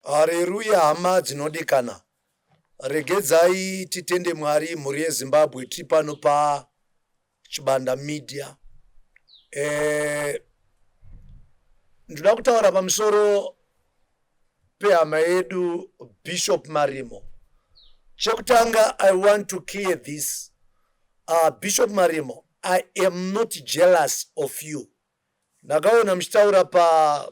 Hareruya hama dzinodikana regedzai titende Mwari mhuri yeZimbabwe tiri pano pa Chibanda Media eh, ndoda kutaura pamusoro pehama yedu Bishop Marimo chekutanga I want to clear this uh, Bishop Marimo I am not jealous of you ndakaona muchitaura pa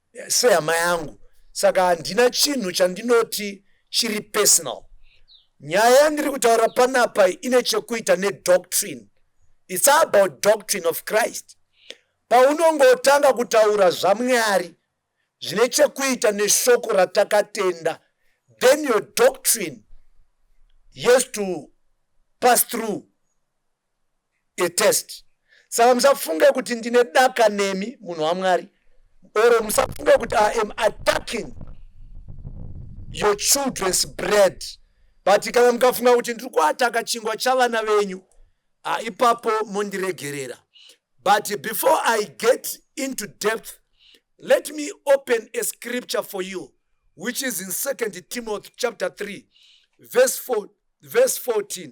sehama yangu saka handina chinhu chandinoti chiri personal nyaya yandiri kutaura panapa ine chekuita nedoctrine its about doctrine of christ paunongotanga kutaura zvamwari zvine chekuita neshoko ratakatenda then your doctrine yes to pass through a test saka musafunge kuti ndine daka nemi munhu wamwari or musafunge kuti i am attacking your children's bread but kana mukafunga kuti ndiri kuataka chingwa chavana venyu ah, ipapo mondiregerera but before i get into depth let me open a scripture for you which is in second timothy chapter 3 verse 4 verse 14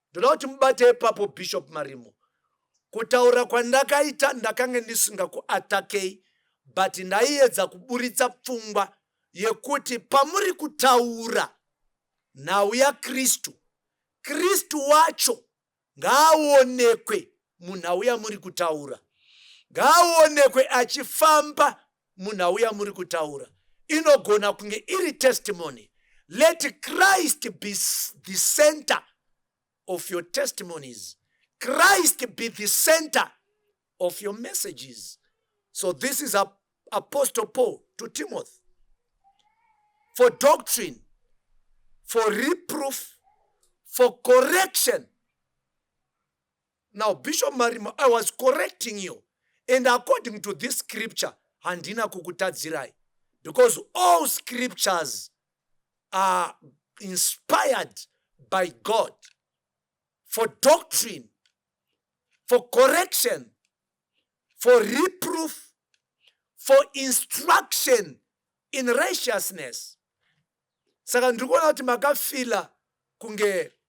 Ndoda kuti mubate ipapo Bishop Marimo. Kutaura kwandakaita ndakange ndisingakuatakei but ndaiedza kuburitsa pfungwa yekuti pamuri kutaura nhau yaKristu, Kristu wacho ngaaonekwe munhau yamuri kutaura. Ngaaonekwe achifamba munhau yamuri kutaura. Inogona kunge iri testimony. Let Christ be the center of your testimonies. Christ be the center of your messages. So this is a Apostle Paul to Timothy. For doctrine, for reproof, for correction, Now Bishop Marimo I was correcting you and according to this scripture handina kukutadzirai because all scriptures are inspired by God for doctrine, for correction, for reproof, for instruction in righteousness. Saka ndiri kuona kuti makafila kunge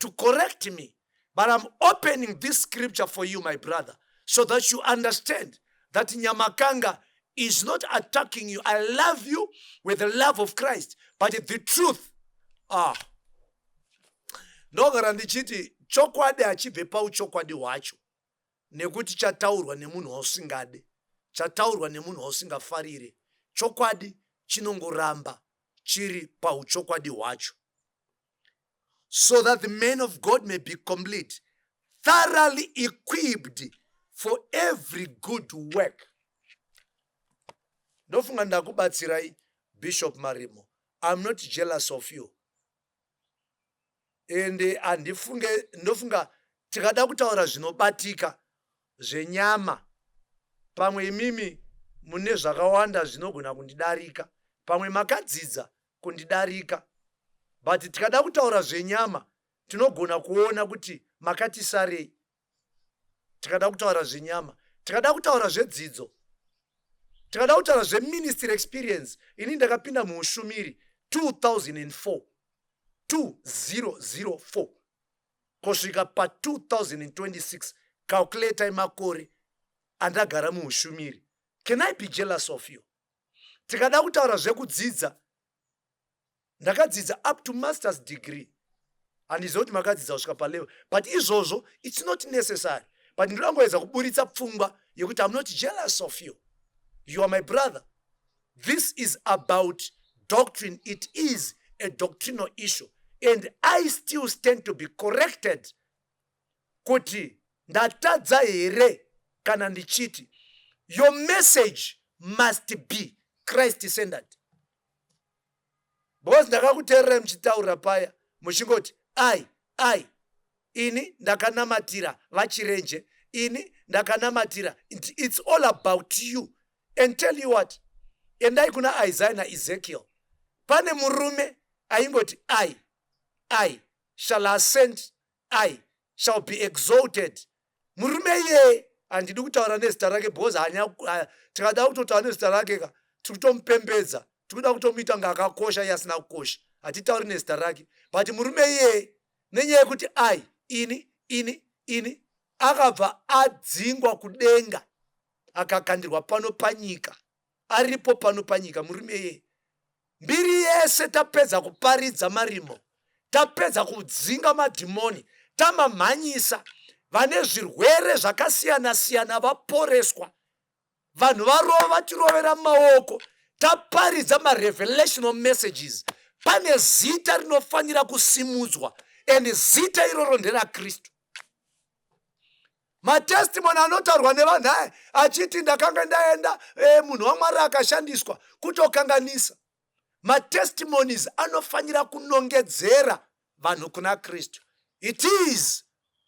to correct me but I'm opening this scripture for you my brother so that you understand that Nyamakanga is not attacking you. I love you with the love of Christ but the truth ah ndogara ndichiti chokwadi hachibve pauchokwadi hwacho nekuti chataurwa nemunhu wausingade chataurwa nemunhu wausingafarire chokwadi chinongoramba chiri pauchokwadi hwacho so that the man of God may be complete, thoroughly equipped for every good work. Ndofunga ndakubatsirai Bishop Marimo. I'm not jealous of you. And eh, andifunge ndofunga tikada kutaura zvinobatika zvenyama pamwe imimi mune zvakawanda zvinogona kundidarika pamwe makadzidza kundidarika but tikada kutaura zvenyama tinogona kuona kuti makati sarei tikada kutaura zvenyama tikada kutaura zvedzidzo tikada kutaura zveministry experience ini ndakapinda muushumiri 2004 2004 kusvika pa 2026 calculatai makore andagara muushumiri can i be jealous of you Tikada kutaura zvekudzidza, ndakadzidza up to masters degree handiziva kuti makadzidza kusvika palevel but izvozvo its not necessary but ndoda ngoedza kuburitsa pfungwa yekuti im not jealous of you you are my brother this is about doctrine it is a doctrinal issue and i still stand to be corrected kuti ndatadza here kana ndichiti your message must be christ centered because ndakakuteererai muchitaura paya muchingoti ai ai ini ndakanamatira vachirenje ini ndakanamatira its all about you and tell you what endai kuna isaiah naezekiel pane murume aingoti ai ai shall ascend I shall be exalted murume iyeye handidi kutaura nezita rake because hanya tikada kutotaura nezita rake ka tiri kutomupembedza tiri kuda kutomuita kunge akakosha iye asina kukosha hatitauri nezita rake but murume iyeye nenyaya yekuti i ini ini ini akabva adzingwa kudenga akakandirwa pano panyika aripo pano panyika murume iyeye mbiri yese tapedza kuparidza marimo tapedza kudzinga madhimoni tamamhanyisa vane zvirwere zvakasiyana siyana vaporeswa vanhu varova tirovera maoko taparidza marevelational messages pane zita rinofanira kusimudzwa and zita iroro nderakristu matestimony anotaurwa nevanhu aya achiti ndakanga ndaenda e, munhu wamwari akashandiswa kutokanganisa matestimonies anofanira kunongedzera vanhu kuna kristu it is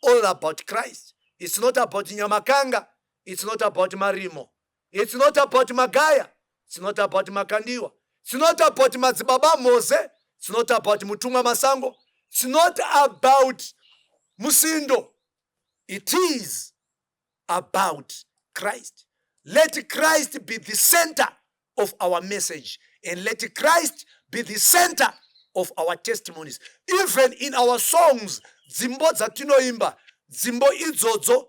all about christ its not about nyamakanga its not about marimo its not about magaya its not about makandiwa its not about madzibaba mose its not about mutumwa masango its not about musindo It is about Christ. Let Christ be the center of our message and let Christ be the center of our testimonies. Even in our songs, dzimbo dzatinoimba, dzimbo idzodzo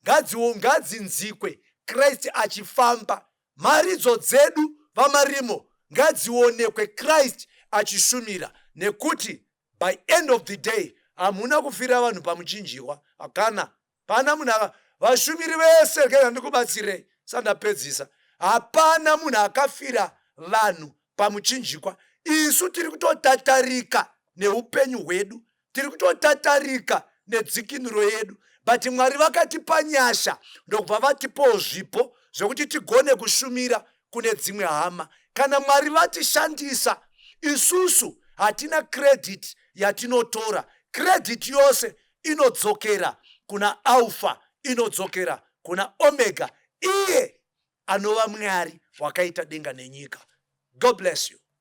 ngadziwo ngadzinzikwe Christ achifamba. Maridzo dzedu vamarimo ngadzionekwe Christ achishumira nekuti by end of the day hamuna kufira vanhu pamuchinjihwa hakana pana munhu aka vashumiri vese geza ndikubatsirei sandapedzisa hapana munhu akafira vanhu pamuchinjikwa isu tiri kutotatarika neupenyu hwedu tiri kutotatarika nedzikinuro yedu but mwari vakatipa nyasha ndokubva vatipawo zvipo zvekuti tigone kushumira kune dzimwe hama. Kana Mwari vatishandisa, isusu hatina credit yatinotora. Credit yose inodzokera kuna Alpha, inodzokera kuna Omega, iye anova Mwari wakaita denga nenyika. God bless you.